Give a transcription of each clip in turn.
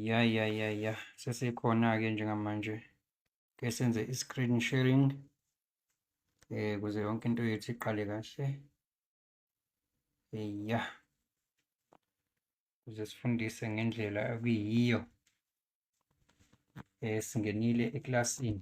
ya ya ya ya sesikhona-ke njengamanje ke senze i-screen sharing eh kuze yonke into yethu iqale kahle ya kuze sifundise ngendlela okuyiyo eh singenile eklasini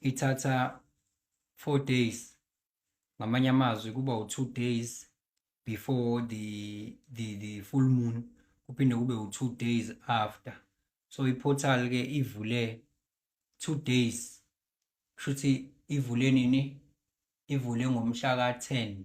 ithatha four days ngamanye amazwi kuba u-two days before the, the, the full moon kuphinde kube u-two days after so iportal-ke ivule two days kusho ukuthi ivule nini ivule ngomhla ka-ten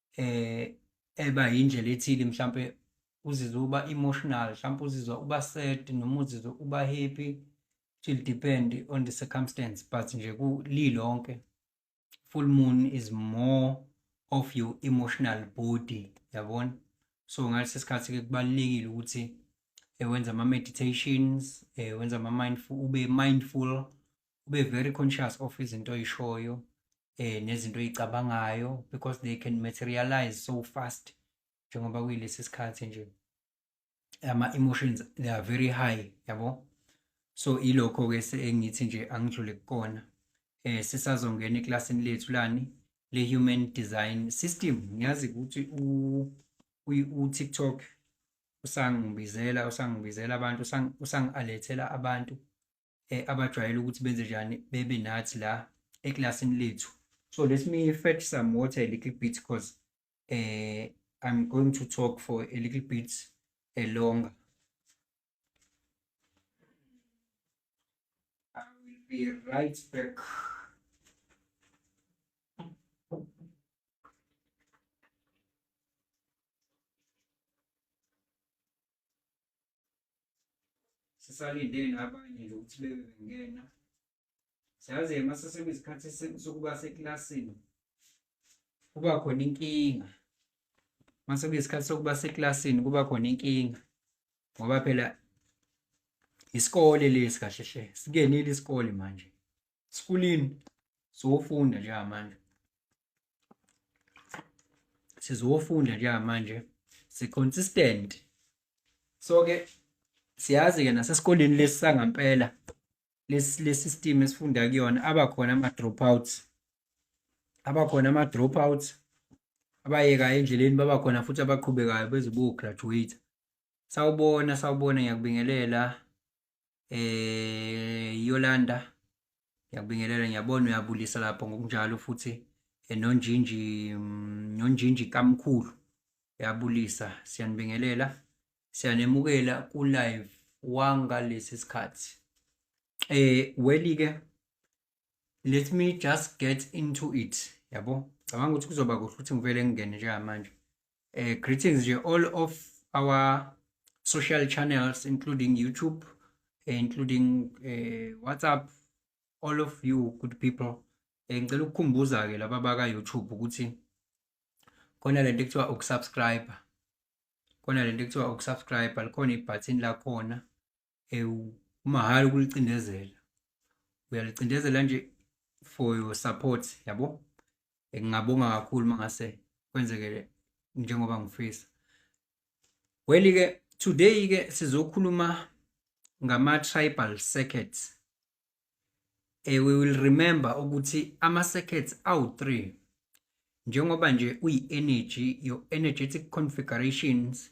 eh eba yindlela ethile mhlampe uzizwa uba emotional mhlampe uzizwa uba sad noma uzizwa uba happy it will depend on the circumstance but nje kulilonke full moon is more of your emotional body yabona so ngalesi sikhathi ke kubalekile ukuthi eh, wenza ama meditations eh, wenza ama mindful ube mindful ube very conscious of izinto oyishoyo eh nezinto oyicabangayo because they can materialize so fast njengoba kuyilesi sikhathi nje ama emotions they are very high yabo so ilokho ke engithi nje angidlule kukona eh sisazongena eklasini lethu lani le human design system ngiyazi ukuthi u u TikTok usangibizela usangibizela abantu usangialethela abantu eh, abajwayele ukuthi benze njani bebe nathi la eklasini lethu so let me fetch some water a little bit because uh, eh, i'm going to talk for a little bit uh, longer i will be right back sisalindele nabanye nje ukuthi bebe bengena siyazi-ke uma sesekwisikhathi sokuba sekilasini kuba khona inkinga uma sekuyisikhathi sokuba sekilasini kuba khona inkinga ngoba phela isikole lesi kahle hle sikenile isikole manje sikulini sowufunda njengamanje sizowufunda njengamanje si-consistent so-ke siyazi-ke nasesikoleni lesi sangampela lesisystem esifunda kuyona abakhona ama-dropouts abakhona ama-dropouts abayekayo endleleni babakhona futhi abaqhubekayo bezobograduate sawubona sawubona ngiyakubingelela eh Yolanda ngiyakubingelela ngiyabona uyabulisa lapho ngokunjalo futhi eh, nonjinji mm, nonjinji kamkhulu uyabulisa siyanibingelela siyanemukela ku live wangalesi sikhathi eh weli ke let me just get into it yabo cabanga ukuthi kuzoba kuhle ukuthi ngivele ngingene njengamanje um greetings nje all of our social channels including youtube eh, including uh, whatsapp all of you good people um ngicela ukukhumbuza-ke laba baka-youtube ukuthi khona le nto ekuthiwa ukusubscribe khona le nto ekuthiwa ukusubscribe likhona ibhathini lakhona ewu umahhala ukulicindezela uyalicindezela nje for your support yabo ngingabonga kakhulu mangase kwenzeke njengoba ngifisa weli ke today ke sizokhuluma ngama tribal circuits eh we will remember ukuthi ama circuits awu 3 njengoba nje uyi energy your energetic configurations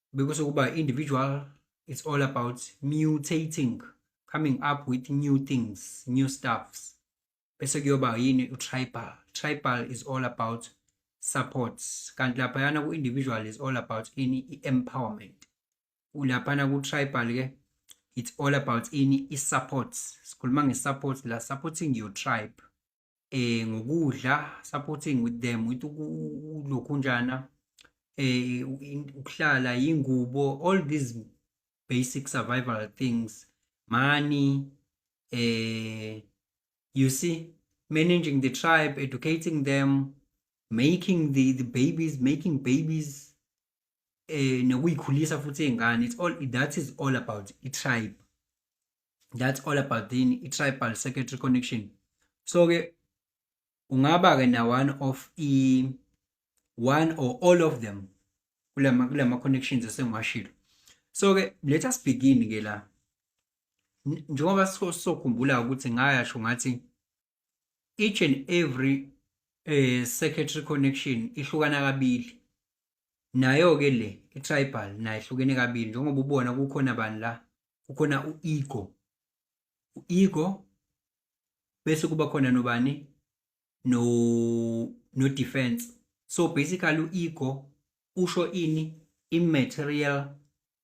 bekusho ukuba individual it's all about mutating coming up with new things new stuffs bese kuyoba yini utribal tribal is all about support kanti laphayana ku-individual is all about ini i-empowerment laphana ku-tribal ke it's all about ini i-support sikhuluma nge-support la supporting your tribe eh ngokudla supporting with them with lokhunjana eh ukuhlala ingubo all these basic survival things money eh you see managing the tribe educating them making the the babies making babies eh nokuyikhulisa futhi izingane it's all that is all about i tribe that's all about in i-tribal secretary connection so-ke ungaba-ke na-one of i one or all of them kula ma-connections esengiwashilo so-ke let us begin-ke la njengoba sokhumbula ukuthi ngayasho ngathi each and every eh secretary connection ihlukana kabili nayo ke le itribal nayo ihlukene kabili njengoba ubona kukhona bani la kukhona uego uego bese kuba khona nobani no no defense so basically uego usho ini imaterial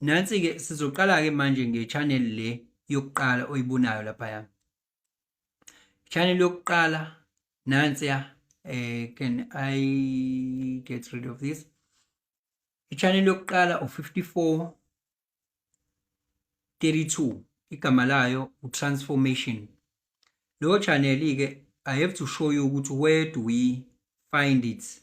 nansi-ke sizoqala-ke manje nge-channel le yokuqala oyibonayo laphaya channel yokuqala nansiya um eh, can i get rid of this i-channel yokuqala u-54 32 igama layo u-transformation leyo channel-ke i have to show you ukuthi where do we find it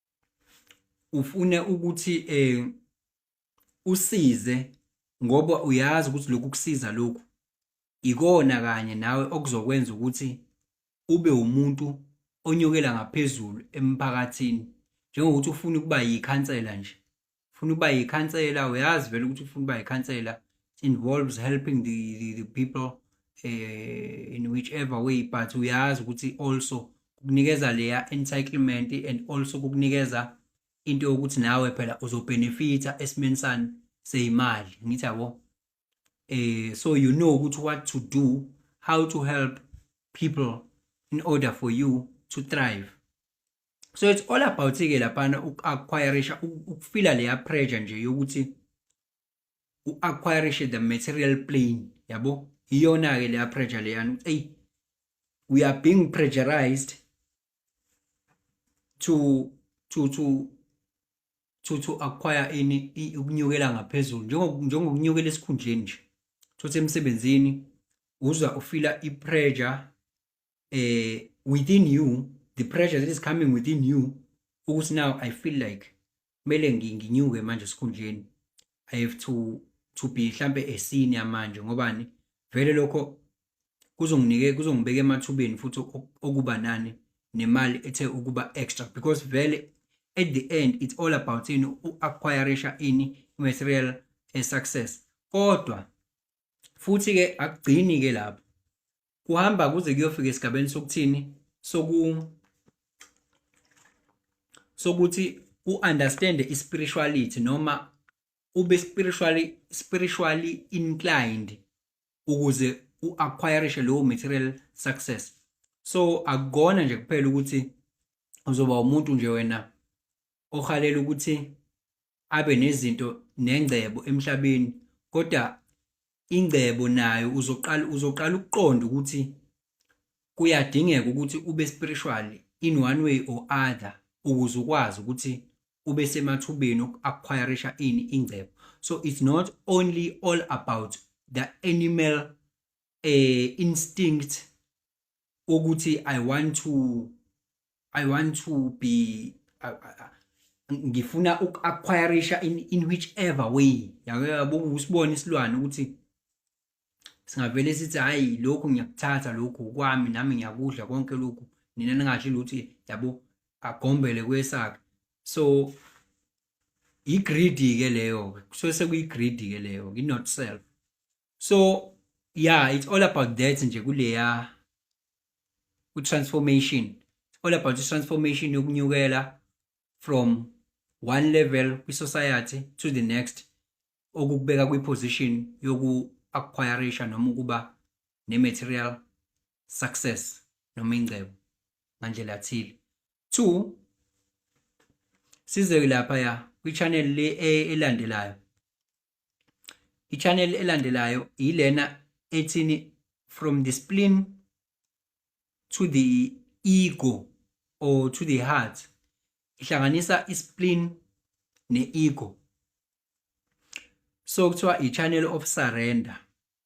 ufune ukuthi eh usize ngoba uyazi ukuthi lokhu kusiza lokhu ikona kanye nawe okuzokwenza ukuthi ube umuntu onyukela ngaphezulu emphakathini njengokuthi ufuna ukuba yikhansela nje ufuna uba yikhansela uyazi vele ukuthi ufuna uba yikhansela involves helping the, the, the people uh, in whichever way but uyazi ukuthi also kukunikeza leya entitlement and also kukunikeza into yokuthi nawe phela uzobenefita esimeni sani seyimali ngithi yabo eh so you know ukuthi what to do how to help people in order for you to thrive so it's all about ke laphana uku-acquirisha ukufila leya pressure nje yokuthi u-acquirishe the material plane yabo iyona-ke leya pressure leyani eyi we are being pressurized to to to to to acquire ini ukunyukela ngaphezulu njengokunyukela esikhundleni nje thothi emsebenzini uzwa ufila i-pressure eh within you the pressure that is coming within you ukuthi now i feel like kumele nginyuke manje esikhundleni i have to to be mhlambe a senior manje ngobani vele lokho kuzonginike kuzongibeka emathubeni futhi okuba nani nemali ethe ukuba extra because vele at the end it's all about in u-acquirisha ini material eh, success kodwa futhi ke akugcini ke lapho kuhamba kuze kuyofika esigabeni sokuthini soku sokuthi u understand i spirituality noma ube spiritually spiritually inclined ukuze u acquire lowo material success so akugona nje kuphela ukuthi uzoba umuntu nje wena ohalela ukuthi abe nezinto nengcebo emhlabeni kodwa ingcebo nayo uzoqala uzoqala ukuqonda ukuthi kuyadingeka ukuthi ube spiritual in one way or other ukuze ukwazi ukuthi ube semathubeni okuacquirisha ini ingcebo so it's not only all about the animal uh, instinct ukuthi i want to i want to be I, I, ngifuna uku-acquirisha in, in whichever way yabo usibone isilwane ukuthi singavele sithi hhayi lokhu ngiyakuthatha lokhu kwami nami ngiyakudla konke lokhu nina ningasho ukuthi yabo agombele kwesakhe so i-greedy-ke leyo-ke kusuke sekuyi-greedy-ke leyo-ke i-not self so yeah it's all about that nje kuleya ku transformation it's all about transformation yokunyukela from one level kwi society to the next okukubeka kwi position yoku acquireisha noma ukuba ne material success noma ingcebo ngandlela thile two size lapha ya kwi channel le e, elandelayo i-channel elandelayo yilena ethini from the spleen to the ego or to the heart ihlanganisa i-spleen ne-ego so kuthiwa i-channel of surrender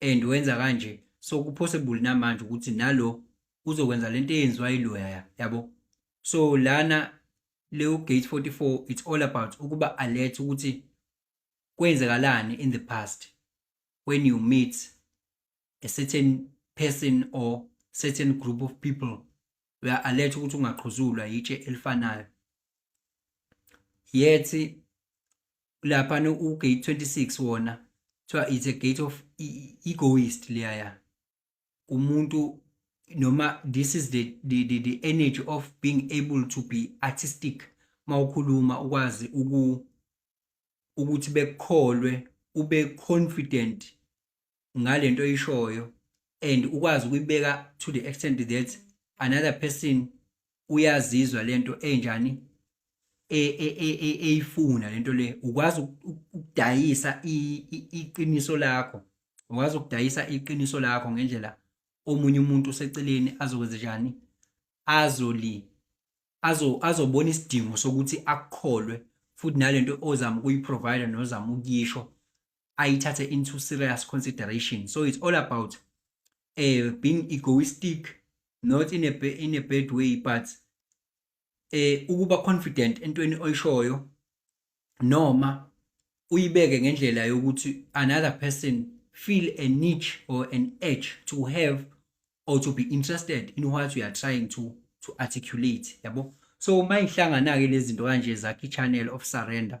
and wenza kanje so kupossible namanje ukuthi nalo uzokwenza lento eyenziwa iloya yabo so lana leyo gate 44 it's all about ukuba alert ukuthi kwenzekalani in the past when you meet a certain person or certain group of people we are alert ukuthi ungaqhuzulwa yitshe elifanayo yethi lapha no u gate 26 wona kuthiwa it's a gate of e, e, egoist leyaya umuntu noma this is the, the, the, the energy of being able to be artistic mawukhuluma ukwazi uku ukuthi bekukholwe ube confident ngalento oyishoyo and ukwazi ukuyibeka to the extent that another person uyazizwa lento enjani e- e- e- e- eyifuna lento le ukwazi uku- uku- ukudayisa i- i- iqiniso lakho ukwazi ukudayisa iqiniso lakho ngendlela omunye umuntu oseceleni azokwenza njani azoli azo azobona isidingo sokuthi akukholwe futhi nalento ozama ukuyiprovide nozama ukuyisho ayithathe into serious consideration so it's all about uh, being egoistic not in a, in a bad way but eh ukuba confident entweni oyishoyo noma uyibeke ngendlela yokuthi another person feel a niche or an edge to have or to be interested in what you are trying to to articulate yabo so uma ihlangana ke lezi zinto kanje zakhe channel of surrender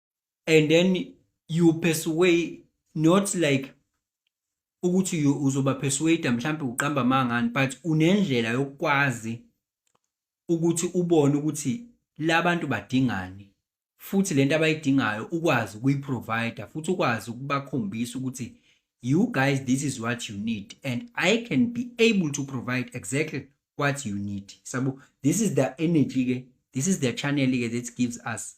and then you persuade not like ukuthi uzoba persuade mhlawumbe uqamba mangani but unendlela yokwazi ukuthi ubone ukuthi labantu badingani futhi lento abayidingayo ukwazi ukuyiprovider futhi ukwazi ukubakhombisa ukuthi you guys this is what you need and i can be able to provide exactly what you need sabo this is the energy ke this is the channel ke that gives us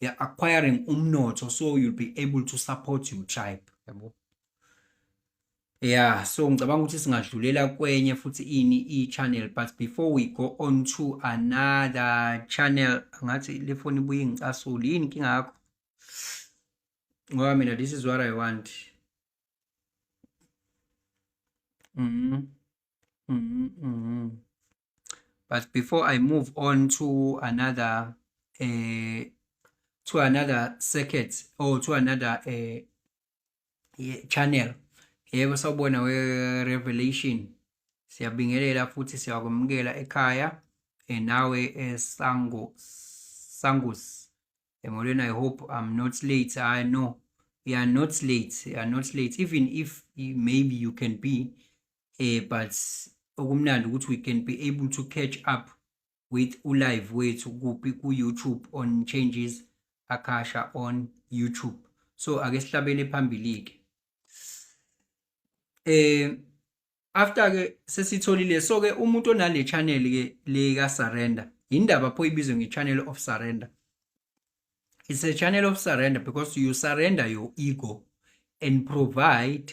you're acquiring umnotho so you'll be able to support your tribe yabo yeah so ngicabanga ukuthi singadlulela kwenye futhi ini i-channel but before we go on to another channel ngathi le foni ibuye ingicasule yini inkinga yakho ngoba mina this is what i want mm -hmm. Mm -hmm. But before I move on to another uh, to another circuit or to another uh, channel yebo sawubona we-revelation siyabingelela futhi siyakwamukela ekhaya eh, nawe esango sangus emolweni i hope i'm not late i know you are not late you are not late even if maybe you can be eh but okumnandi ukuthi we can be able to catch up with ulive wethu kuphi ku-youtube on changes akasha on youtube so ake sihlabele phambili-ke eh after ke sesitholile so ke umuntu onale channel ke le ka surrender indaba pho ibizwe nge channel of surrender it's a channel of surrender because you surrender your ego and provide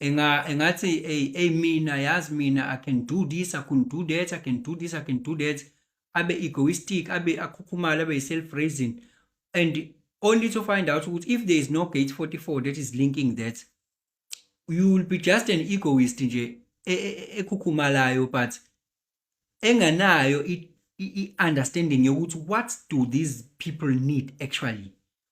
enga engathi hey hey mina yazi mina i can do this i can do that i can do this i can do that abe egoistic abe akhukhumala abe self raising and only to find out ukuthi if there is no gate 44 that is linking that you will be just an egoist nje e, e, e, ekhukhumalayo but enganayo i understanding yokuthi what do these people need actually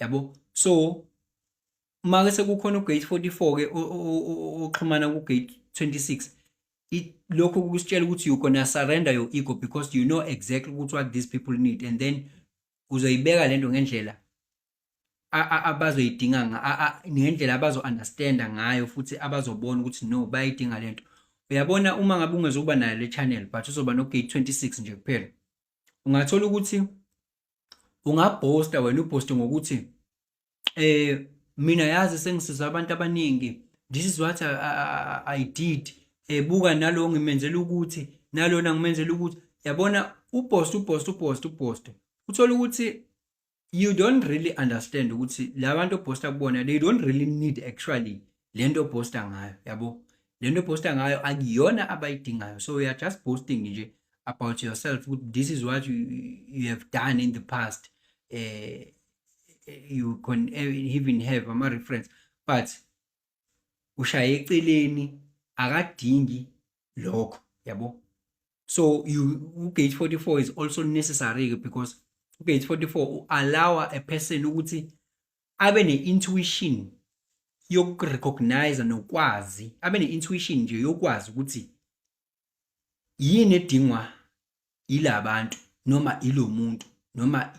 yabo so uma ke sekukhona ugate 44 ke oxhumana kugate 26 lokho kusitshela ukuthi you gonna surrender your ego because you know exactly ukuthi what these people need and then uzoyibeka lento ngendlela abazoyidinga ngendlela abazo-understanda ngayo futhi abazobona ukuthi no bayayidinga lento uyabona uma ngabe ungezokuba nayo le channel but uzoba nogate 26 nje kuphela ungathola ukuthi ungabhosta wena ubhoste ngokuthi eh mina yazi sengisiza abantu abaningi this is what I, I, I did ebuka eh, nalo ngimenzela ukuthi nalona ngimenzela ukuthi yabona ubhosta ubhosta ubhosta ubhosta uthola ukuthi you don't really understand ukuthi labantu obhosta kubona they don't really need actually lento obhosta ngayo yabo lento obhosta ngayo akuyona abayidingayo so you are just boasting nje about yourself this is what you, you have done in the past uh, you can even have ama reference but ushaye eceleni akadingi lokho yabo so you ugate 44 is also necessary because ugate 44 allow a person ukuthi abe ne-intuition yokurecognize nokwazi abe ne-intuition nje yokwazi ukuthi yini edingwa yila bantu noma ilo muntu noma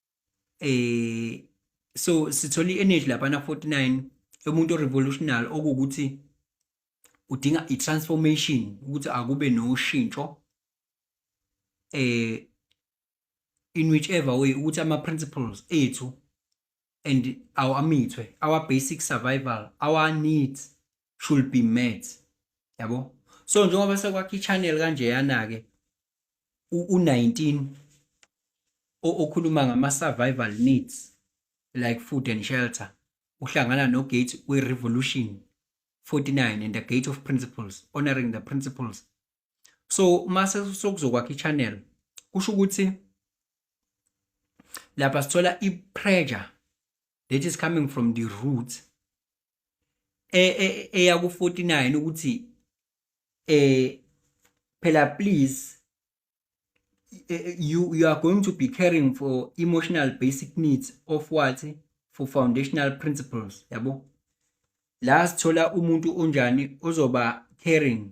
eh so sithola i-energy lapha na 49 yomuntu revolutionary okuwukuthi udinga i-transformation ukuthi akube noshintsho eh in whichever way ukuthi ama principles ethu and our amithwe our basic survival our needs should be met yabo so njengoba sekwakhe ichannel kanjeyana ke u19 okhuluma ngama survival needs like food and shelter uhlangana no gate we revolution 49 and the gate of principles honoring the principles so mase sokuzokwakha ichannel kusho ukuthi lapha sithola i pressure that is coming from the roots e, e, eyaku 49 ukuthi eh phela please eh, eh, you you are going to be caring for emotional basic needs of what for foundational principles yabo la sithola umuntu onjani ozoba caring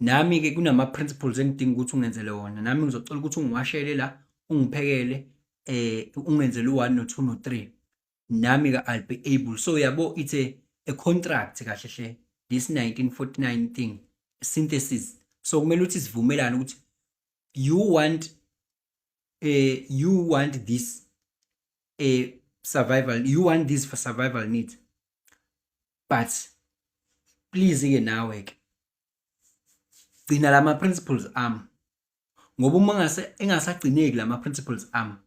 nami-ke kunama-principles engidinga ukuthi ungenzele wona nami ngizocela ukuthi ungiwashele la ungiphekele um ungenzele u-one no-two no-three nami-ke i'll be able so yabo it's a, a contract kahle hle this 1949 thing synthesis so kumele ukuthi sivumelane ukuthi you want uh, you want this uh, survival you want this for survival needs but please ke nawe ke gcina lama principles am ngoba uma ngase engasagcineki lama principles am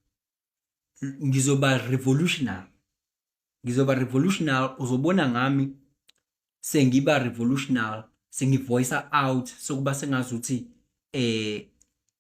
ngizoba revolutionary ngizoba revolutionary uzobona ngami sengiba revolutionary sengivoice out sokuba sengazuthi eh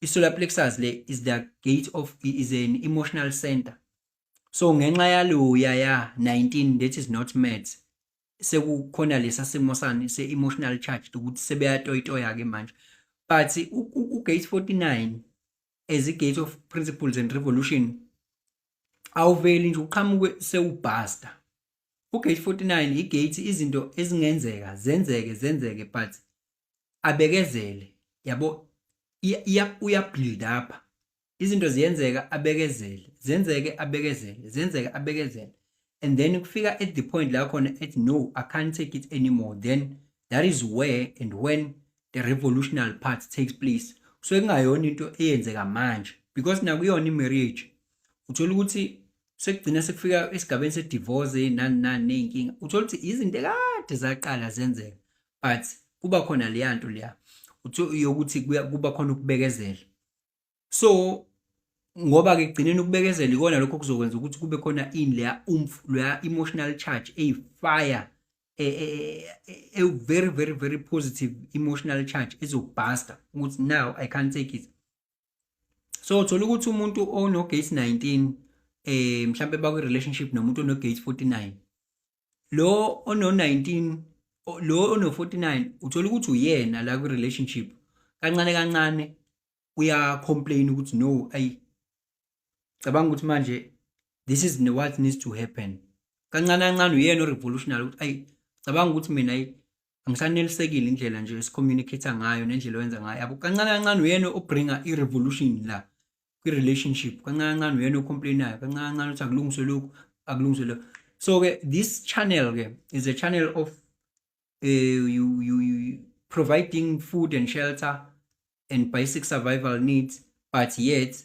i-solar plexus le is the gate of is an emotional center so ngenxa yaloya ya 19 that is not maths sekukhona lesa simo sani se-emotional charge ukuthi sebeyatoyitoya-ke manje but ugate 49 as i-gate of principles and revolution awuveli nje uqhamuke sewubhasta ugate 49 igate izinto ezingenzeka zenzeke zenzeke but abekezele yabo uyabuild up izinto ziyenzeka abekezele zenzeke abekezele zenzeke abekezele and then kufika at the point la khona ethi no i can't take it anymore then that is where and when the revolutionary part takes place kusuke kungayona into eyenzeka manje because nakuyona i-marriage uthola ukuthi sekugcina sekufika esigabeni se-divorce nani nani ney'nkinga uthola ukuthi izinto ekade zaqala zenzeka but kuba khona leya nto leya yokuthi kuba khona ukubekezela so ngoba-ke kugcineni ukubekezela ikona lokho kuzokwenza ukuthi kube khona ini leya umf leya emotional charge eyifire e, e, e, a very very very positive emotional charge ezobhasta ukuthi now i can't take it so uthola ukuthi umuntu onogate 19 eh mhlambe bakwi relationship nomuntu onogate 49 lo ono 19 o- lo ono 49 uthola ukuthi uyena la kwi relationship kancane kancane uya complain ukuthi no ayi cabanga ukuthi manje this is what needs to happen kancane kancane uyena o revolutionary ukuthi ayi cabanga ukuthi mina ayi angisanelisekile indlela nje esicommunicate ngayo nendlela oyenza ngayo yabo kancane kancane uyena obringa i-revolution la kwi-relationship kancane kancane uyena ocomplainayo kancane kancane ukuthi akulungiswe lokhu akulungiswe lokhu so-ke this channel-ke is a channel of uh, you, you, you providing food and shelter and basic survival needs but yet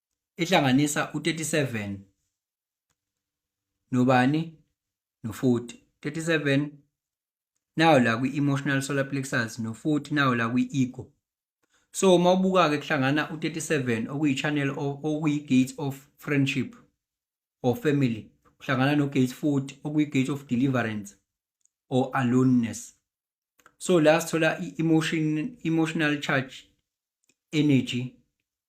ehlanganisa u-37 nobani no-40 37 nayo la kwi-emotional solar plexus no-40 nayo la kwi-ego so uma ubuka-ke kuhlangana u-37 okuyi-channel okuyi-gate of friendship or family kuhlangana no-gate 40 okuyi-gate of deliverance or aloneness so la sithola i-emotion emotional charge energy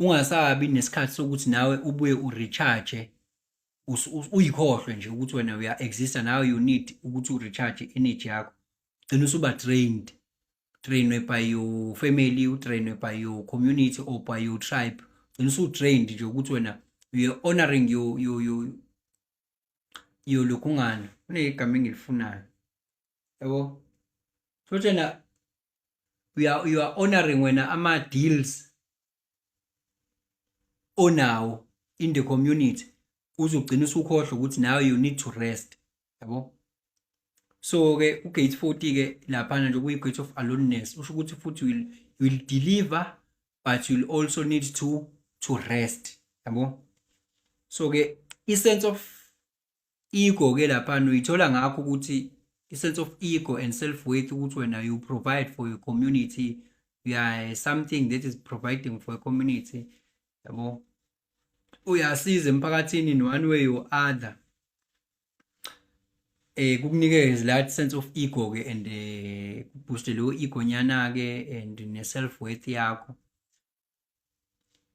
ungasabi nesikhathi sokuthi nawe ubuye urecharge uyikhohlwe nje ukuthi wena uya exista now you need ukuthi urecharge energy yakho gcina usuba drained trainwe by your family utrainwe by your community or by your tribe gcina usutrained nje ukuthi wena you're honoring your, your, your, yolokhu ngani kunegama engilifunayo yabo so tjena you are, you are honoring wena ama-deals onawo in the community uzogcina usukhohlwa ukuthi nawe you need to rest yabo so ke ugate 40 ke lapha nje kuyi gate of aloneness usho ukuthi futhi will will deliver but you'll also need to to rest yabo so ke i sense of ego ke lapha uyithola ngakho ukuthi i sense of ego and self worth ukuthi wena you provide for your community you are something that is providing for a community yabo uyasiza emphakathini in one way or other eh kukunikeza that sense of ego ke and eh booster lo ego nyana ke and ne self worth yakho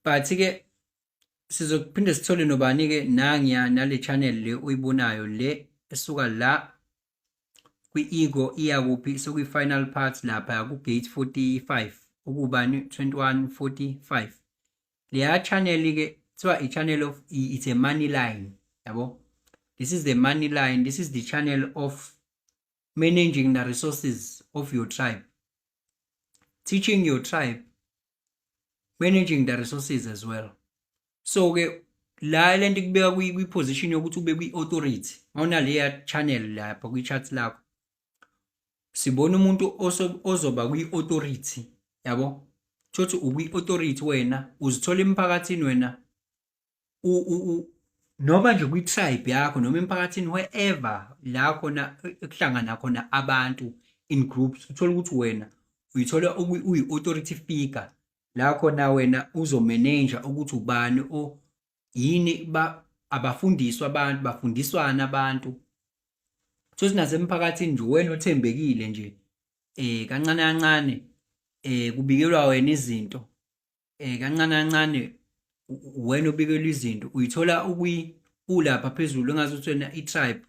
but ke sizophinde sithole nobani ke nangiya nale channel le uyibonayo le esuka la kwi ego iya kuphi sokwi final part lapha ku gate 45 ukubani 2145 leya channel ke kuthiwa i-channel of it's a money line yabo this is the money line this is the channel of managing the resources of your tribe teaching your tribe managing the resources as well so ke la lento kubeka kwi position yokuthi ube kwi authority awuna leya channel lapha kwi chat lakho sibona umuntu ozoba kwi-authority yabo thothi ukwi-authority wena uzithola emphakathini wena noma nje kwi-tribe yakho noma emphakathini wherever la khona kuhlangana khona abantu in groups uthole ukuthi wena uyithola uyi-authority figure la khona wena uzomeneja ukuthi ubani yini ba abafundiswa abantu bafundiswana abantu futhi nasemphakathini nje wena othembekile nje eh kancane kancane eh kubikelwa wena izinto eh kancane kancane wena obikelwa izinto uyithola ukwi ulapha phezulu engazi ukuthi wena i-tribe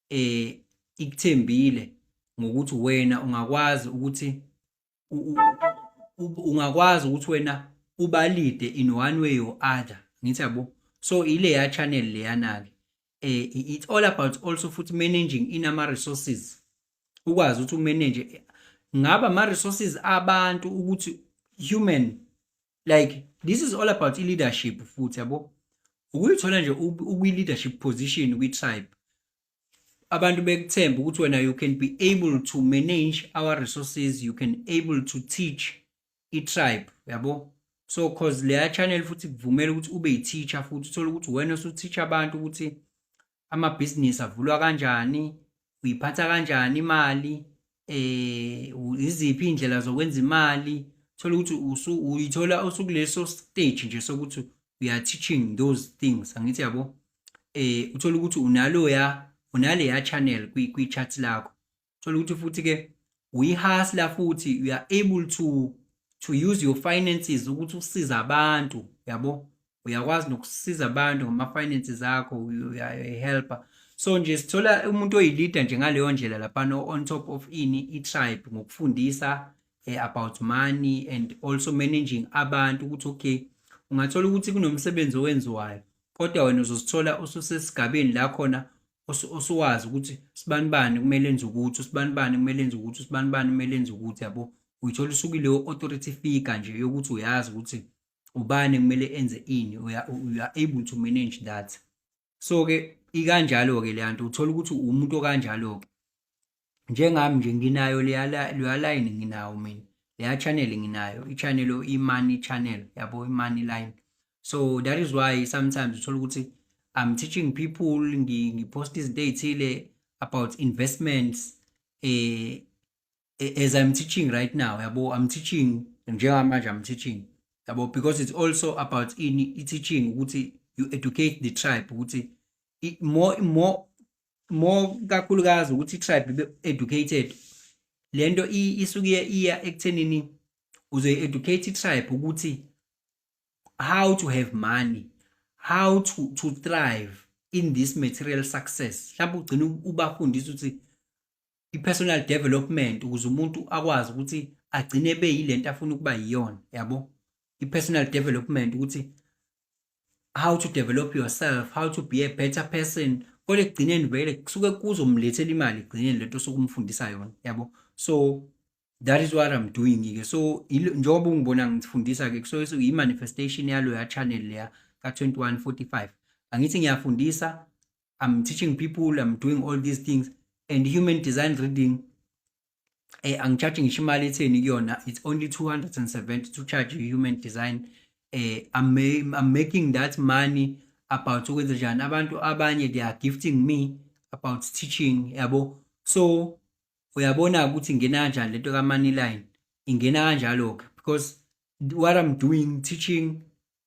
eh ikuthembile ngokuthi wena ungakwazi ukuthi ungakwazi ukuthi wena ubalide in one way or other ngithi yabo so ile ya channel leyana ke eh it's all about also futhi managing in ama resources ukwazi ukuthi umanage ngaba ama resources abantu ukuthi human like this is all about leadership futhi yabo ukuyithola nje ukwi leadership position kwi tribe abantu bekuthemba ukuthi wena you can be able to manage our resources you can able to teach i-tribe yabo so cause leya channel futhi kuvumela ukuthi ube yi-teacher futhi uthole ukuthi wena usuteach abantu ukuthi amabhizinisi avulwa kanjani uyiphatha kanjani imali eh iziphi indlela zokwenza imali thola ukuthi usu uyithola usukuleso stage nje sokuthi we are teaching those things angithi yabo eh uthola ukuthi unalo ya unale ya channel kwi kwi chat lakho thola ukuthi futhi ke uyihasla futhi you are able to to use your finances ukuthi usiza abantu yabo uyakwazi nokusiza abantu ngama-finances akho uyayihelpa so nje sithola umuntu oyilida nje ngaleyo ndlela laphana on top of ini i-tribe ngokufundisa eh, about money and also managing abantu ukuthi okay ungathola ukuthi kunomsebenzi owenziwayo kodwa wena uzosithola ususesigabeni la khona osuwazi ukuthi sibani bani kumele enze ukuthi usibani bani kumele enze ukuthi usibani bani kumele enze ukuthi yabo uyithola usukuleyo authority figure nje yokuthi uyazi ukuthi ubani kumele enze ini we are, we are able to manage that so ke ikanjalo ke leyanto uthola ukuthi umuntu okanjalo ke njengami nje nginayo leya leya line nginawo mina leya channel nginayo i channel i money channel yabo i money line so that is why sometimes uthola ukuthi i'm teaching people ngipost izinto ezithile about investments eh as i'm teaching right now yabo i'm teaching njengamanje i'm teaching yabo because it's also about ini i-teaching ukuthi you educate the tribe ukuthi more more more kakhulukazi ukuthi i-tribe ibe educated le nto isuke iya ekuthenini uzoyi-educate i-tribe ukuthi how to have money how to, to thrive in this material success mhlawumbe ugcina ubafundisa ukuthi i-personal development ukuze umuntu akwazi ukuthi agcine ebe yilento afuna ukuba yiyona yabo i-personal development ukuthi how to develop yourself how to be a better person kodwa ekugcineni vele kusuke kuzomlethela imali ekugcineni lento sokumfundisa yona yabo so that is what i'm doing ke so njengoba ungibona ngifundisa ke kusuke kuyi-manifestation yaloya channel leya ka-2145 angithi ngiyafundisa I'm teaching people, I'm doing all these things. And human design reading, eh, I'm charging Shimali Yona, it's only 270 to charge human design. Eh, I'm, I'm making that money about ukwenza njani abantu abanye they are gifting me about teaching yabo so uyabona ukuthi ingena kanjani lento ka money line ingena kanjalo ke because what i'm doing teaching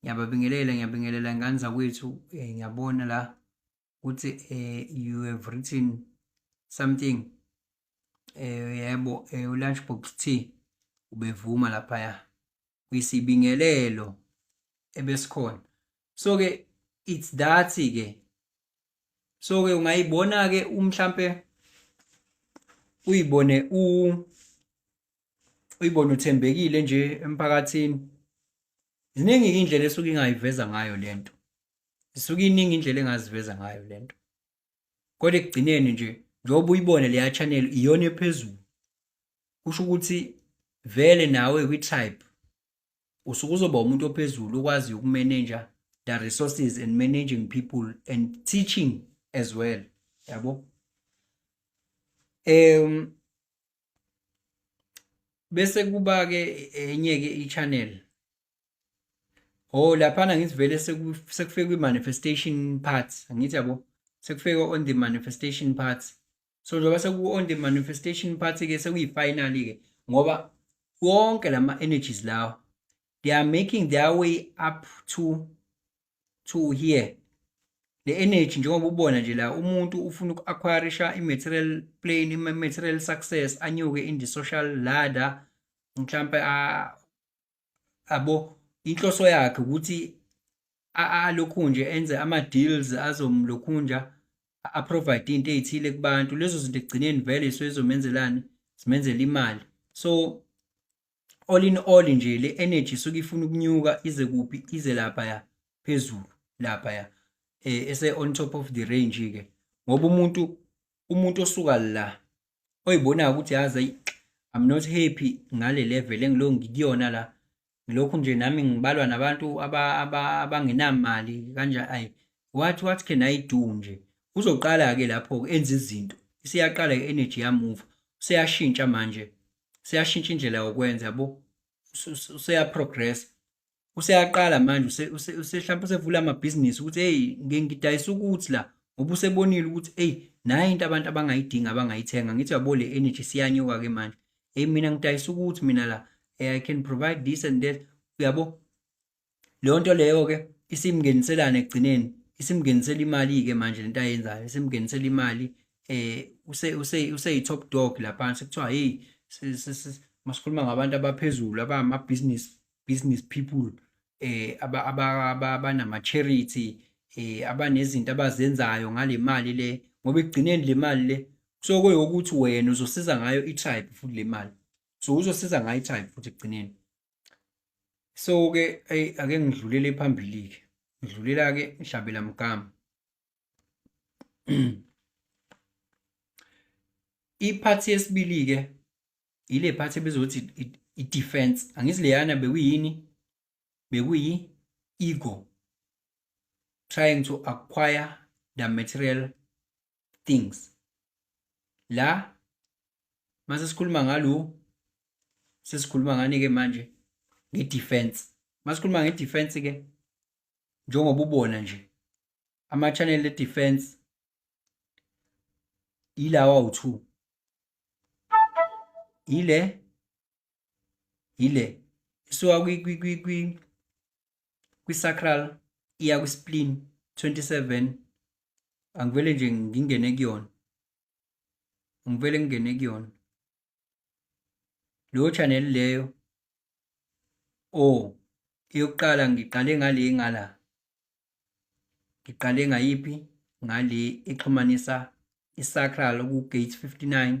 ngiyababingelela ngiyabingelela ngane zakwethu eh, ngiyabona la ukuthi eh, you have written something eh, yebo eh, ulunchbox tea ubevuma laphaya kwisibingelelo ebesikhona so ke it's that ke so ke ungayibona ke umhlambe uyibone u uyibone uthembekile nje emphakathini ziningi indlela esuke ingayiveza ngayo lento isuke iningi indlela engaziveza ngayo lento kodwa ekugcineni nje njengoba uyibone leya channel iyona ephezulu kusho ukuthi vele nawe kwi-type usuke uzoba umuntu ophezulu okwazi ukumenenja the resources and managing people and teaching as well yabo um bese kuba ke enye ke i-channel oh laphana ngithi vele sekufike kwi-manifestation part angithi yabo sekufike on the manifestation part so njengoba seku-on the manifestation part ke sekuyi-finally ke ngoba wonke lama-energies lawa they are making their way up to to here le energy njengoba ubona nje la umuntu ufuna uku-acquirisha i-material plane i-material success anyuke in the social ladder mhlawumpe abo inhloso yakhe ukuthi alokhu nje enze ama-deals azomlokhu nje a-provide into ey'thile kubantu lezo zinto ekugcineni vele isuke zizomenzelani zimenzela imali so all in all nje le energy suke ifuna ukunyuka ize kuphi ize lapha ya phezulu lapha ya eh ese on top of the range ke ngoba umuntu umuntu osuka la oyibona ukuthi yazi I'm not happy ngale level engilo ngikuyona la ngilokhu nje nami ngibalwa nabantu abangenamali aba, kanja ay what what can I do nje uzoqala ke lapho enza izinto isiyaqala ke energy ya move seyashintsha manje seyashintsha indlela yokwenza yabo useyaprogressa useyaqala manje mhlawumbe usevula amabhizinisi ukuthi eyi ngidayisa ukuthi la ngoba usebonile ukuthi eyi nayo into abantu abangayidingi abangayithenga ngithi yabo le energy siyanyuka-ke manje eyi mina ngidayisa ukuthi mina la eh, i can provide this and that uyabo leyo nto leyo ke isimngeniselana ekugcineni isimngenisela imali ke manje lento ayenzayo isimngenisela imali eh use use use i top dog lapha sekuthiwa hey masikhuluma ngabantu abaphezulu abama business business people eh aba abanama charity eh abanezinto abazenzayo ngalemali le ngoba ekugcineni le mali le kusoke ukuthi wena uzosiza ngayo i-tribe futhi le mali so uzosiza ngayo i-tribe futhi ekugcineni so ke ayi ake ngidlulele phambili ke ngidlulela ke ngihlabela mgama iphathi yesibili ke ile phathi ebizothi i-defense angithi leyana bekuyini bekuyi ego trying to acquire the material things la mase sikhuluma ngalo sesikhuluma ngani ke manje ngedefense masikhuluma ngedefense ke njengoba ubona nje ama channel edefense ilawa u2 ile yile isuka kwi kwi kwi kwi kwi sacral iya kwi spleen 27 angivele nje ngingene kuyona ngivele ngingene kuyona leyo channel leyo o eyokuqala ngiqale ngale ngala ngiqale ngayiphi ngale exhumanisa isacral ku gate 59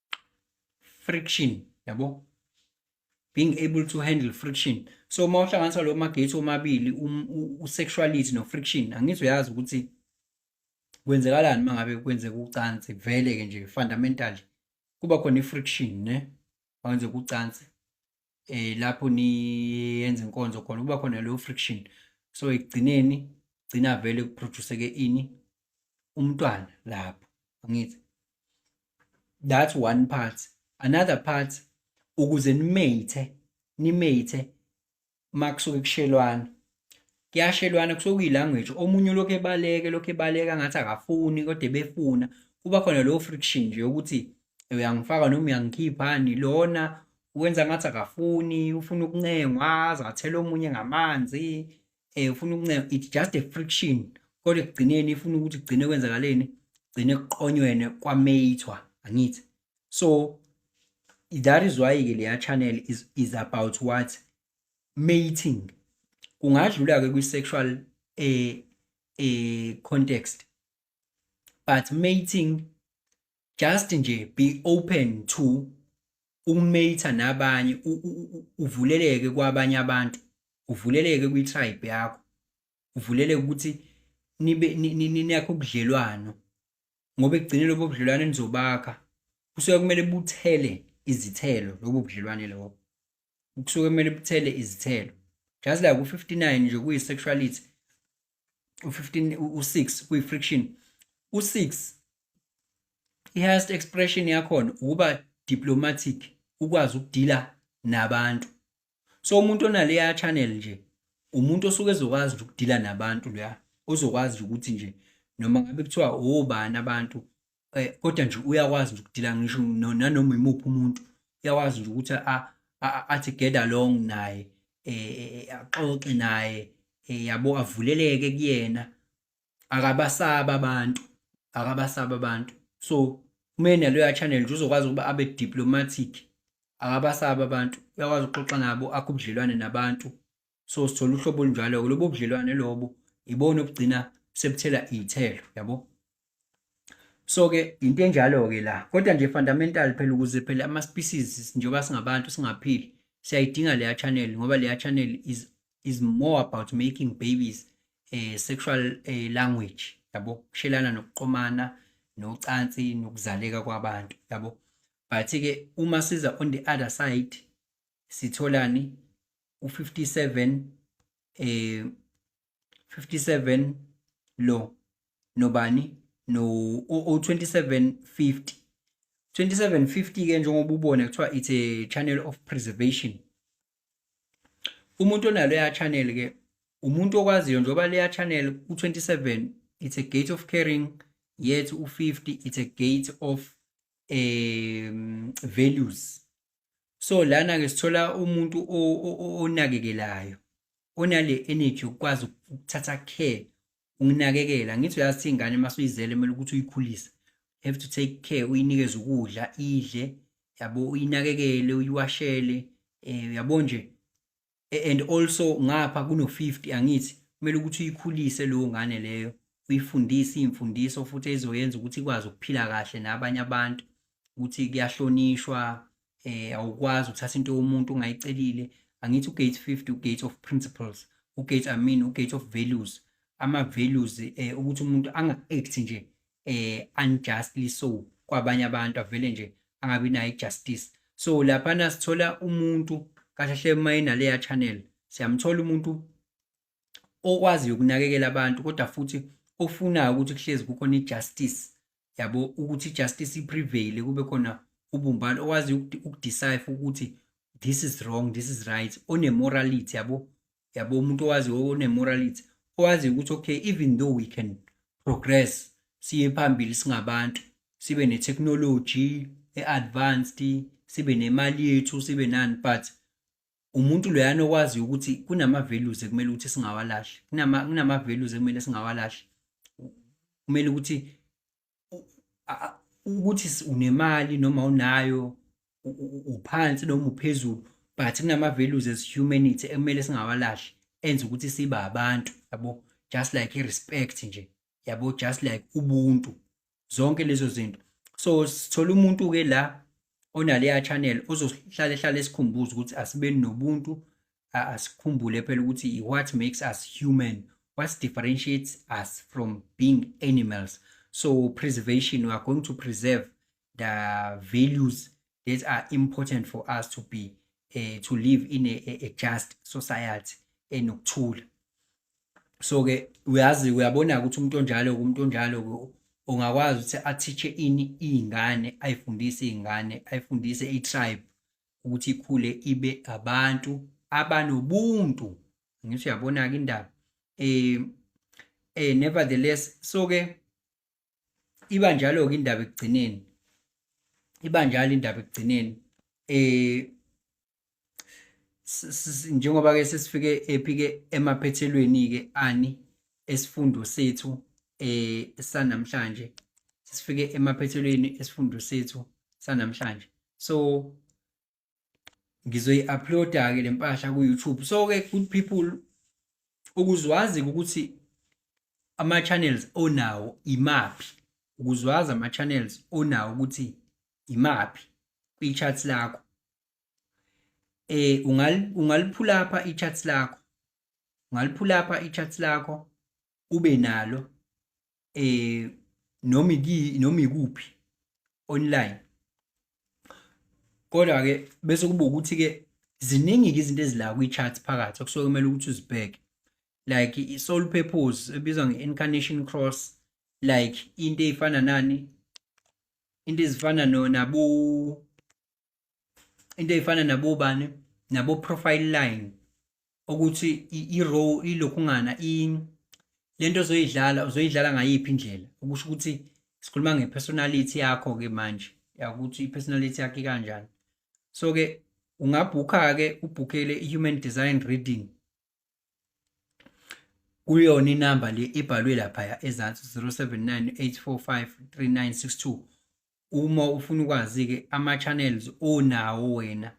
friction yabo being able to handle friction so uma uhlanganisa lo magethi omabili um, usexuality no-friction angithi uyazi ukuthi kwenzekalani uma ngabe kwenzeka ucansi vele-ke nje fundamentally kuba khona i-friction ne makwenzeka ucansi eh lapho niyenza inkonzo khona kuba khona leyo friction so ekugcineni gcina vele kuproduce ke ini umntwana lapho angithi that's one part another part ukuze nimethe nimethe makusuke kushelwana kuyashelwana kusuke kuyilanguage omunye ulokhu ebaleke lokhu ebaleka ngathi akafuni kodwa ebefuna kuba khona lowo friction nje ukuthi uyangifaka noma uyangikhiphani lona wenza ngathi akafuni ufuna ukuncengwa aze athele omunye ngamanzi um ufuna ukuncengwa it's just a friction kodwa ekugcineni ifuna ukuthi kugcine kwenzakaleni gcine kuqonyweni kwameyithwa angithi so that is why-ke leya channel is, is about what mating kungadlula ke kwi sexual eh eh context but mating just nje be open to ukumatha nabanye uvuleleke kwabanye abantu uvuleleke kwi tribe yakho uvuleleke ukuthi nibe niyakho ubudlelwano ngoba ekugcine lobo budlelwane nizobakha kusuke kumele buthele izithelo lobo budlelwane lobo kusuke kumele buthele izithelo just like u-59 nje kuyi-sexuality u-15 u-6 kuyi-friction u-6 i-highest expression yakhona ukuba diplomatic ukwazi ukudila nabantu so umuntu onaleya channel nje umuntu osuke ezokwazi nje ukudila nabantu loya ozokwazi ukuthi nje noma ngabe kuthiwa obani abantu eh, kodwa nje uyakwazi nje ukudila ngisho nanoma imuphi umuntu uyakwazi nje ukuthi athi get along naye eh, eh, axoxe naye yabo avuleleke kuyena akabasaba abantu akabasaba abantu so kumele naloya channel nje uzokwazi ukuba abe diplomatic akabasaba abantu uyakwazi ukuxoxa nabo akho ubudlelwane nabantu so sithola uhlobo olunjalo-ke lobo budlelwane lobo ibona obugcina sebuthela iy'thelo yabo so-ke into enjalo-ke la kodwa nje fundamental phela ukuze phela ama-species njengoba singabantu singaphili siyayidinga leya channel ngoba leya channel is, is more about making babies eh, sexual eh, language yabo kushelana nokuqomana nocansi nokuzaleka kwabantu yabo but-ke uma siza on the other side sitholani u57 eh 57 lo nobani no o2750 2750 ke njengoba ubona kuthiwa it's a channel of preservation umuntu onalo ya channel ke umuntu okwaziyo njengoba leya channel u27 it's a gate of caring yet u50 it's a gate of um values so lana ke sithola umuntu onakekelayo onale energy ukwazi ukuthatha care ukunakekela ngithi uyazi ingane uma suyizele kumele ukuthi uyikhulise have to take care uyinikeze ukudla idle yabo uyinakekele uyiwashele eh yabo nje and also ngapha kuno 50 angithi kumele ukuthi uyikhulise leyo ngane leyo uyifundise imfundiso futhi ezoyenza ukuthi ikwazi ukuphila kahle nabanye abantu ukuthi kuyahlonishwa eh awukwazi ukuthatha into yomuntu ungayicelile angithi ugate 50 ugate of principles ugate i mean ugate of values ama values eh ukuthi umuntu anga act nje eh unjustly so kwabanye abantu avele nje angabi nayo ijustice so laphana sithola umuntu kahle uma inaleya channel siyamthola umuntu okwazi ukunakekela abantu kodwa futhi ofunayo ukuthi kuhlezi kukhona ijustice yabo ukuthi ijustice iprevail kube khona ubumbano okwazi ukudecipher ukuthi this is wrong this is right onemorality yabo yabo umuntu owazi onemorality owazi ukuthi okay even though we can progress siye phambili singabantu sibe ne technology e advanced sibe nemali yethu sibe nani but umuntu loyana okwazi ukuthi kunama values ekumele ukuthi singawalahli kunama kunama values ekumele singawalahli kumele ukuthi ukuthi unemali noma unayo uphansi noma uphezulu but kunama-values as humanity ekumele singawalahli enza ukuthi sibe abantu yabo just like i-respect nje yabo just like ubuntu zonke lezo zinto so sithola umuntu-ke la onaleya channel ozohlale hlale esikhumbuza ukuthi asibeni nobuntu asikhumbule phela ukuthi what makes us human what differentiates us from being animals so preservation we are going to preserve the values that are important for us to be uh, to live in a, a, a just society enokuthula so ke uyazi uyabona ukuthi umuntu onjalo umuntu onjalo ungakwazi ukuthi athiche ini izingane ayifundise izingane ayifundise itribe ukuthi ikhule ibe abantu abanobuntu ngisho uyabona ke indaba eh eh nevertheless so ke iba njalo ke indaba ekugcineni iba njalo indaba ekugcineni eh njengoba ke sesifike ephike emaphethelweni ke ani esifundo sethu eh sanamhlanje sifike emaphethelweni esifundo sethu sanamhlanje so ngizoyi-uploada ke le mpahla ku-youtube so ke good people ukuzwazi ukuthi ama-channels onawo imaphi ukuzwazi ama-channels onawo ukuthi imaphi kwi-chat lakho eh ungal ungaliphula apha i-chart lakho ungaliphula apha i-chart lakho ube nalo eh noma ki noma ikuphi online kodwa ke bese kuba ukuthi ke ziningi ke izinto ezila kwi-chart phakathi okusuke kumele ukuthi uzibheke like i-soul purpose ebizwa nge-incarnation cross like into eyifana nani into ezifana nabo into efana nabo bani nabo profile line ukuthi i row ilokhungana i lento ozoyidlala uzoyidlala ngayiphi indlela ukusho ukuthi sikhuluma nge personality yakho ke manje yakuthi i personality yakhe kanjani so ke ungabhukha ke ubhukele i human design reading kuyona inamba le ebhalwe laphaya ezansi 0798453962 uma ufuna ukwazi-ke ama-channels onawo wena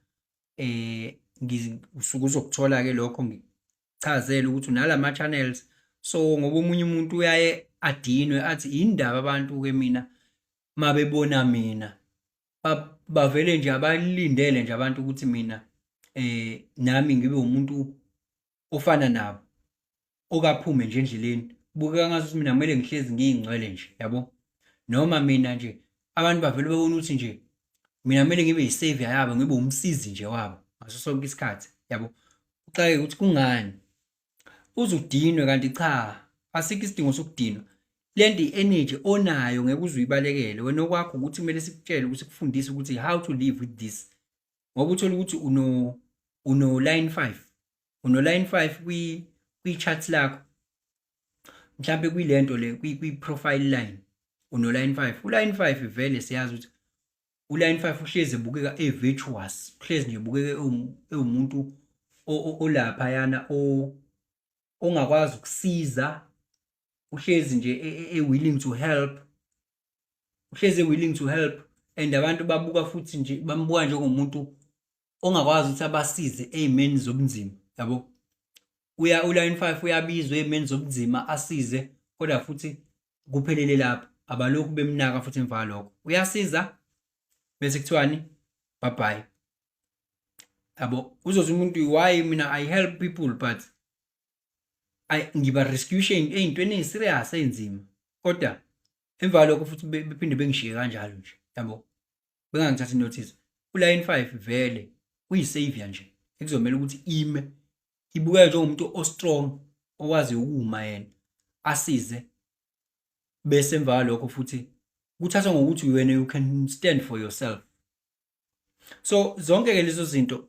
eh ngisuke uzokuthola-ke lokho ngichazele ukuthi unala ma-channels so ngoba omunye umuntu uyaye adinwe athi yini ndaba abantu-ke mina mabebona mina ba- bavele nje abalindele nje abantu ukuthi mina eh nami ngibe umuntu ofana nabo okaphume nje endleleni kubukeka ngathi ukuthi mina kumele ngihlezi ngiyingcwele nje yabo noma mina nje abantu bavele babona ukuthi nje mina kumele ngibe yisavior yabo ngibe umsizi nje wabo ngaso sonke isikhathi yabo uxake ukuthi kungani uzudinwe kanti cha asikho isidingo sokudinwa lento i-energy onayo ngeke uze uyibalekele wena okwakho ukuthi kumele sikutshele ukuthi kufundise ukuthi how to live with this ngoba uthole ukuthi uno uno line 5 uno line 5 kwi kwi chart lakho mhlambe kuyilento le kwi profile line uno line 5 u line 5 vele siyazi ukuthi uline five uhlezi ebukeka e-virtuous uhlezi nje ebukeka ewumuntu olaphayana ongakwazi ukusiza uhlezi nje e, e, e-willing to help uhlezi e-willing to help and abantu babuka futhi nje bambuka njengomuntu ongakwazi ukuthi abasize ey'meni zobunzima yabo uya uline five uyabizwa ey'meni zobunzima asize kodwa futhi kuphelele lapho abalokhu bemnaka futhi emva kwalokho uyasiza bese kuthiwani bye-bye yabo uzothi umuntu why mina i help people but I, ngiba rescution ey'ntweni ey'serious ey'nzima kodwa emva kwalokho futhi bephinde bengishiye kanjalo nje yabo bengangithatha inotice uline 5 vele uyisavior nje ekuzomela ukuthi ime ibukeka njengomuntu ostrong owazi ukuma yena asize bese emva lokho futhi kuthathwa ngokuthi wena you can stand for yourself so zonke ke lezo zinto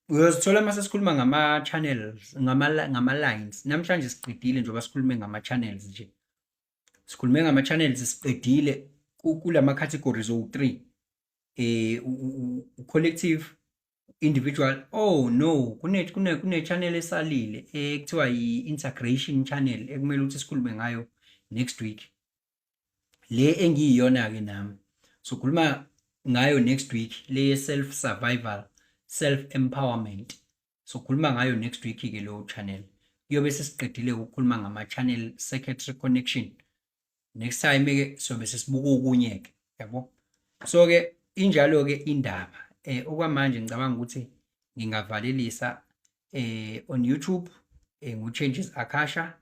uyozithola uma sesikhuluma ngama-channels ngama-lines namhlanje siqedile njengoba sikhulume ngama-channels nje sikhulume ngama channels siqedile kulama categories owu 3 eh u collective individual oh no kune kune kune channel esalile ekuthiwa eh, i integration channel ekumele ukuthi sikhulume ngayo next week le engiyiyona ke nami sokhuluma ngayo next week le self survival self empowerment sokhuluma ngayo next week ke leyo channel kuyobe sesiqedile ukukhuluma ngama channel circuitry connection next time ke sobe sesibuka okunye ke yabo so ke injalo ke indaba eh okwamanje ngicabanga ukuthi ngingavalelisa eh on YouTube eh ngu changes akasha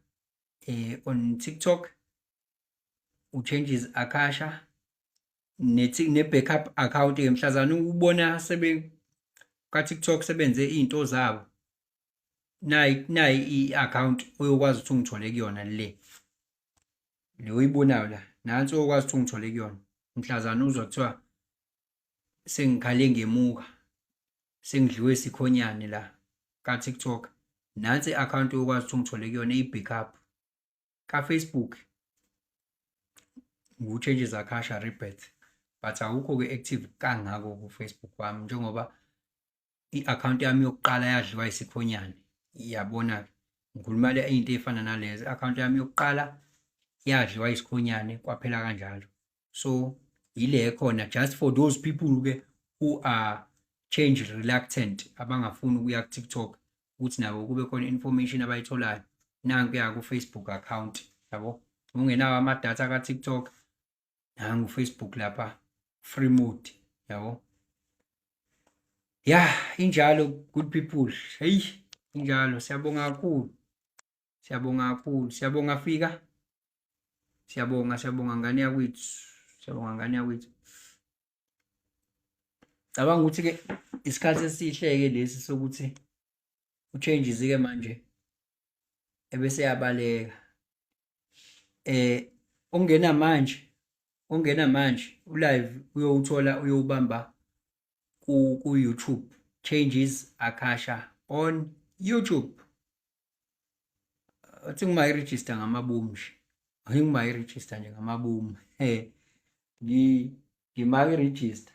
eh on TikTok u changes akasha nethi ne backup account ke mhlazana ubona sebe ka TikTok sebenze izinto zabo nayi nayi i account oyokwazi ukuthi ungithole kuyona le le oyibonayo la nansi oyokwazi ukuthi ungithole kuyona mhlazana uzwa kuthiwa sengikhale ngemuka sengidliwe sikhonyane la ka TikTok nansi i account oyokwazi ukuthi ungithole kuyona i backup kafacebook ngiwutshentshe zakhasha rebirth but awukho-ke active kangako kufacebook wami njengoba i-akhawunti yami yokuqala yadliwa isikhonyane iyabona ngikhuluma le into efana nalezo i-akhawunti yami yokuqala yadliwa isikhonyane kwaphela kanjalo so yile khona just for those people ke who are change reluctant abangafuni ukuya ku-tiktok ukuthi nabo kube khona information abayitholayo nanku ya ku-facebook account yabo ungenawo amadatha ka-tiktok nangu facebook lapha free mode yabo ya injalo good people heyi injalo siyabonga kakhulu Siyabonga kakhulu. Siyabonga fika. Siyabonga, siyabonga ngane yakwethu. Siyabonga ngane yakwethu. Cabanga ukuthi ke isikhathi esihleke lesi sokuthi uchanges ke manje ebese yabaleka. Eh ongena manje, ongena manje ulive uyowuthola uyowubamba ku ku YouTube changes akasha on YouTube. athi nguma i-register ngamaboom nje ayi nguma i-register nje ngamaboom ngima i-register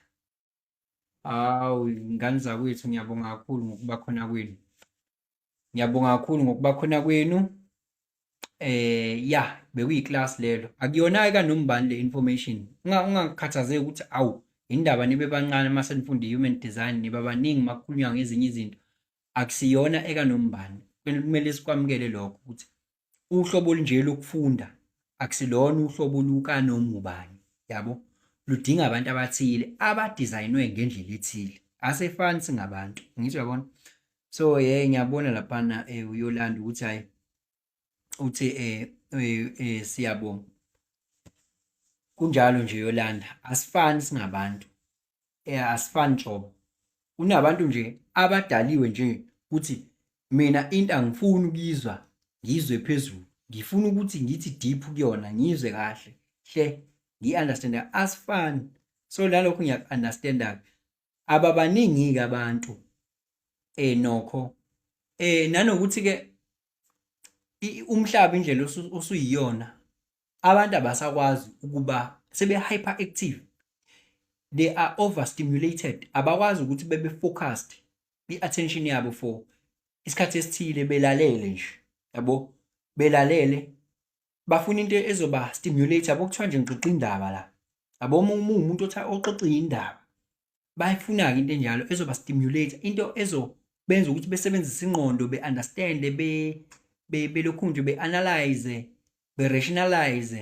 hawu ngane zakwethu ngiyabonga kakhulu ngokuba khona kwenu ngiyabonga kakhulu ngokuba khona kwenu eh ya bekuyi-class lelo akuyona-ke kanombani le information ungakhathazeki ukuthi awu indaba nibe bancane uma senifunda i-human design niba baningi uma kukhulunywa ngezinye izinto akusiyona ekanombani kumele sikwamukele lokho ukuthi uhlobo olunje lokufunda akusilona uhlobo lukanongubani yabo ludinga abantu abathile abadesignwe ngendlela ethile asefani singabantu ngisho yabona so ye ngiyabona laphana eh, uyolanda ukuthi hayi uthi eh, eh, eh siyabonga kunjalo nje Yolanda asifani singabantu eh asifani njobo kunabantu nje abadaliwe nje ukuthi mina into angifuni ukuyizwa ngizwe phezulu ngifuna ukuthi ngithi deep kuyona ngizwe kahle hle ngi understand asifani so lalokho ngiyakunderstanda ababaningi-ke abantu um nokho um nanokuthi-ke umhlaba indlela osuyiyona abantu abasakwazi ukuba sebe-hyper active they are overstimulated abakwazi ukuthi bebe focused i-attention yabo for isikhathi esithile belalele nje yabo belalele bafuna into ezoba stimulate yabo kuthiwa nje ngixoxa indaba la yabo uma umuntu othi oxoxa indaba bayifuna-ke into enjalo ezoba stimulate into ezobenza ukuthi besebenzise ingqondo be-understande belokhu nje be-analyze be-rationalize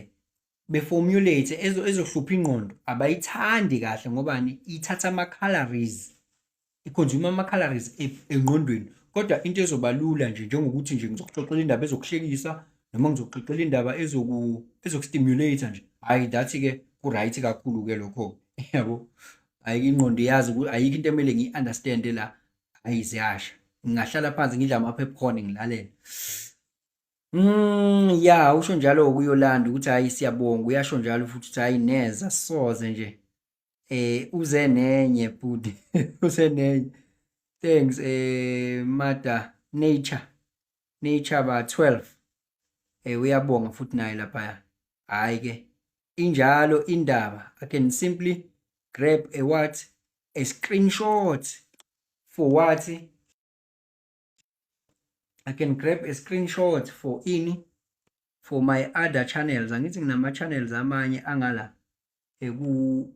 be-formulate ezohlupha ingqondo abayithandi kahle ngobani ithatha ama-calories ikhonzuma ama-calories engqondweni kodwa into ezoba lula nje njengokuthi nje ngizokuxoxela indaba ezokuhlekisa noma ngizokuxoxela indaba ezokustimulate nje hhayi that-ke ku-right kakhulu-ke lokho yabo ayike ingqondo iyazi ayikho into emele ngiyi-understande la hhayi ziyasha ngingahlala phansi ngidla ama-popcorn ngilalele Mm, ya usho njalo-ke uyolanda ukuthi hhayi siyabonga uyasho njalo futhi ukuthi hhayi neza soze nje eh uze nenye bhuti uze nenye thanks eh mada nature nature ba 12 eh uyabonga futhi naye lapha hayi ke injalo indaba i can simply grab a what a screenshot for what I can grab a screenshot for ini for my other channels angithi nginama channels amanye angala eku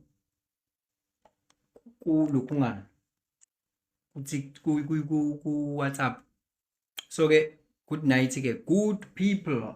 kulukhungana ku WhatsApp so ke good night ke good people